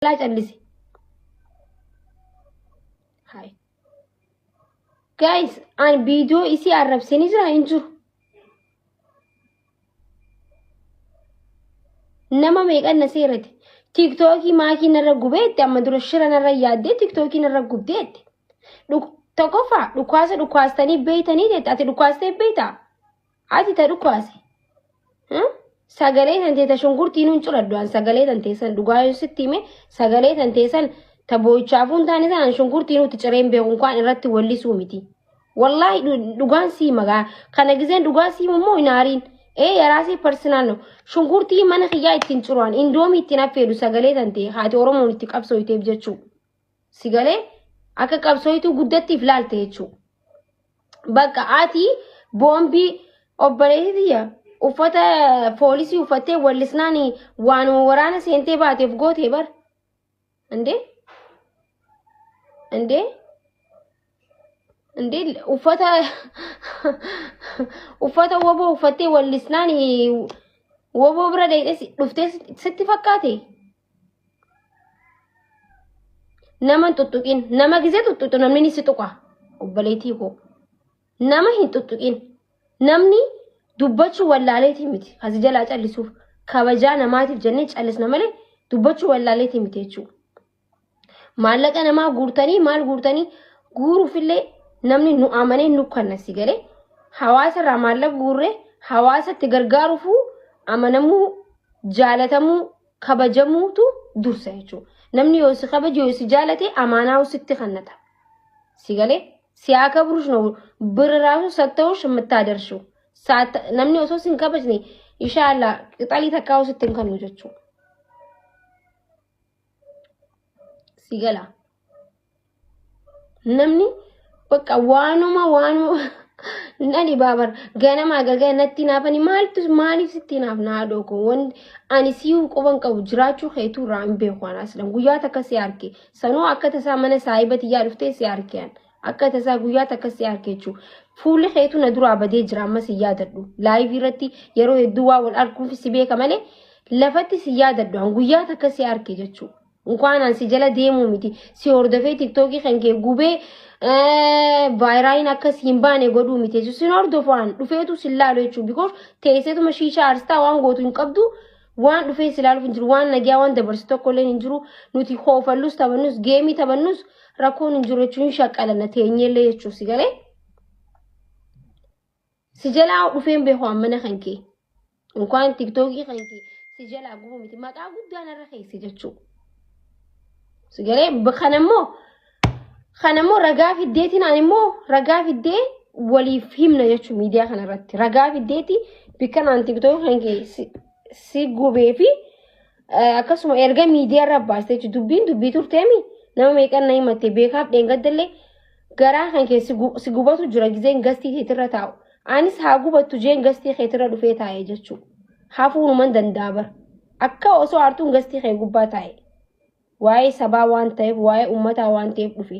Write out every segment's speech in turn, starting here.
jalaa callise. Hai. Guys, an viidiyoo isii arrabsanii jira hin jiru. Nama meeqan na seerate. Tiiktookii maakii narra gubeetti amma dura shira narra yaaddee tiiktookii narra gubdeetti. Dhuk- Tokkoffaa dhukaasa dhukaastanii beeytanii jetti ati dhukaastee beeytaa? Ati ta dhukaase. Hmm? Sagalee tan teeta shunkurtii nuun curadhu an sagalee tan teessan dhugaa yoo sitti hime sagalee tan teessan ta boo'ichaafuun taane san an shunkurtii nuutti cireen beekun kaan irratti wallisuu miti. Wallaahi dhu- dhugaan sii magaa kana gizeen dhugaa sii immoo hin aariin. Ee yaraasii parsinaan no shunkurtii mana kiyyaa ittiin ciruan indoomii ittiin affeedu sagalee tan ta'e haati Oromoon itti qabsooyteef jechuu. Si galee akka qabsooytuu guddatti if laalte jechuu. Bakka ati boombii obboleessi tiyya uffata poolisii uffattee wallisnaan waanuma waraana seentee baateef gootee bar. Indee? Indee? Indee uffata uffata woboo uffattee wallisnaan woboo bira deetes dhuftee sitti fakkaate? Nama hin tuttuqin. Nama gisee tuttuqxu namni ni si tuqa. Obboleettii koo. Nama hin tuttuqin. Namni dubbachuu wallaaleetii miti. Kasi jalaa callisuuf kabajaa namaatiif jennee callisna malee dubbachuu wallaaleetii miti jechuudha. Maallaqa namaa guurtanii maal guurtanii guuruufillee namni nu amanee nu kanna si galee hawaasa irraa maallaqa guurree hawaasatti gargaaruufuu amanamuu jaalatamuu kabajamuutu dursa jechuudha. Namni yoo si kabaje yoo si jaalate amaanaa sitti kannata. Si galee si haa kabrush no birri raasu satta'ush mittaadarshuu. Namni osoo si hin kabajne inshaallah qixalii takkaa sitti hin kannu jechuudha. Si galaa. Namni bakka waanuma waanuma na dhibaa bara ganamaa galgala natti naafani maaltu maaliif sitti naaf naa dhooko wanti ani siif quban qabu jiraachuu keetuu irraa hin beeku an aslan guyyaa takka si arke sanuu akka tasaa mana saahiba tiyyaa dhuftee si arke an akka tasaa guyyaa takka si arke jechuu fuulli keetuu na duraa badee jira amma si yaadadhu laayivii irratti yeroo hedduu waa wal arguuf si beeka malee lafatti si yaadadhu an guyyaa takka si arke jechuu Inkwaan an si jala deemuu miti si hordofee tiktookii kan kee gubee vaayiraayiin akka si hin baane godhuu miti jechuudha. Sin hordofu an dhufeetu sin laalu jechuudha. Bikoos teesseetuma shiishaa arstaa waan gootu hin qabdu waan dhufee si laaluuf hin jiru waan nagaa waan dabarsu tokko illee hin jiru nuti hoofallus taphannus geemii taphannus rakkoon hin jiru jechuun shaqqalanna teenyeellee jechuuf si galee. Si jalaa dhufeen beeku ammana kan kee. Inkwaan tiktookii kan kee si jalaa gubu miti. Maqaa guddaa narra keesse jechuu. Si galee kan ammoo kan ammoo ragaa fiddeetiin ani immoo ragaa fiddee waliif himna jechuu miidiyaa kanarratti. Ragaa fiddeeti bikka naan tiktookii kan kee si- si gubee fi eh, akkasuma erga miidiyaa irra baastee jechuudha. Dubbiin dubbii turteemi nama meeqan na himatte beekaaf dheengaddallee garaa kan kee si gu- si gubatu jira gizeen gastii keetirra taa'u anis haa gubattu jeen gastii keetirra dhufee taa'e jechuu hafuunuman danda'a bar akka osoo aartuun gastii kee gubbaa taa'e waa'ee sabaa waan ta'eef waa'ee ummataa waan ta'eef dhufe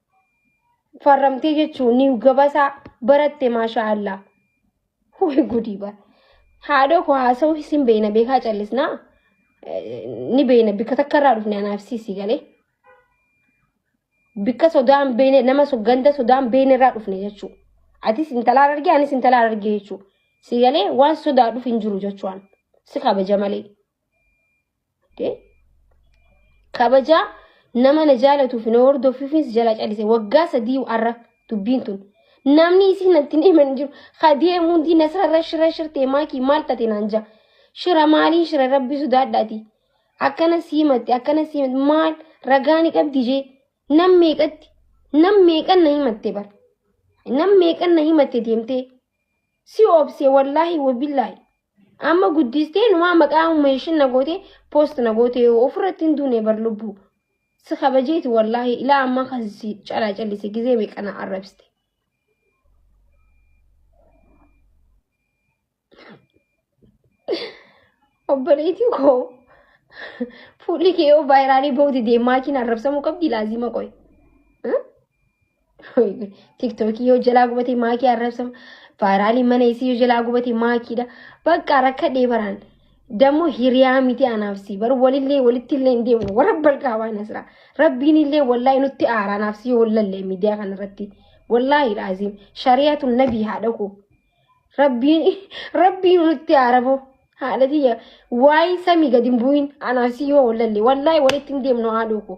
farramtee jechuun ni gabasaa baratte maashaa Allah. Hubi gudii bara. Haadhoo koo haasa'uu isin beeyna beekaa callisnaa ni beeyna bikka takka irraa dhufne anaaf siisii galee. Bikka sodaan beeyne nama so- ganda sodaan beeyne irraa dhufne jechuudha. Atis intalaa argee anis intalaa argee jechuudha. Si galee waan sodaa dhufu hin jiru jechuudhaan si kabaja malee. kabajaa nama na jaalatuuf na hordofuufis jala calise waggaa sadii arra dubbiin tun namni isiin natti hin himan jiru kadee muundii nasrarra shira shirtee maakii maal tate naan jaa shira maalii shira rabbi sodaadhaati akkana siimatti akkana siimatti maal ragaani qabdi jee nam meeqatti nam meeqan na himatte bar nam meeqan na himatte deemtee si obse wallaahi wabillaahi Amma guddistee numaa maqaa umeeshin na gootee post na gootee ofirratti hin duune bar lubbuu. Si kabajeeti wallaahi ilaa ammaa kan si calaa callise gizee meeqa na arrabsite. Obboleetii koo fuulli kee yoo vaayiraalii ba'uuti deemaa kiin arrabsamuu qabdi laazima qoy. Tiktookii yoo jalaa gubatee maakii arrabsama. Vaayiraalii mana isii yoo jalaa gubatee maakiidha. Bakka rakkadhee baraan. Dammoo hiriyaa miti anaaf si bar walillee walitti illee hin deemne warra balqaa waan asira. Rabbiin illee wallaahi nutti aaraa anaaf si wallallee miidiyaa kanarratti. Wallaahi laaziim shariyaatu nabii haa dhaqu. Rabbiin rabbiin nutti aaraboo. Haadha tiyya waa'ee samii gadi hin bu'in anaaf si yoo wallallee wallaahi walitti hin deemnu haadhoo koo.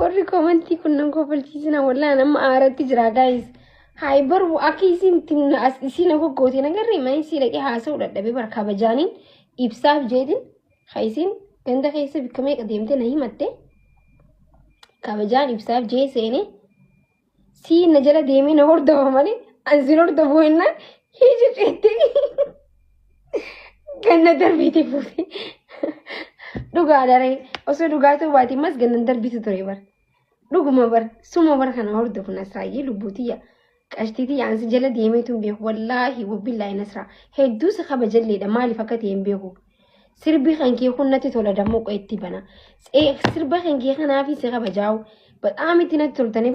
Warri komantii kun nan kofalchiisina wallaan amma aaratti jira gaayis. Haay barbu akka isiin itti na as isiin akka goote na garree mana isii dhaqee haasa'uu dadhabee bara kabajaaniin ibsaaf jeetiin ha isiin ganda keessa bikka meeqa deemte na himatte kabajaan ibsaaf jee seenee sii na jala deemee na hordofa malee an sin hordofuu hennaan hiiji ceettee ganna darbiiti fuute. Dhugaa daree osoo dhugaa ta'uu baate mas gannan darbitu ture bara. Dhuguma bara suma bara kana hordofu nasraayyee lubbuutiyya. Qashtiitii ansi jala deemeetu hin beeku wallaahi wabbillaahi nasraa hedduu si kabajalleedha maaliif akka ta'e hin beeku. Sirbi kan kee kun natti tola dammoo qo'etti bana. Sirba kan kee kanaafi si kabajaa'u. Ba'aam itti natti toltanii.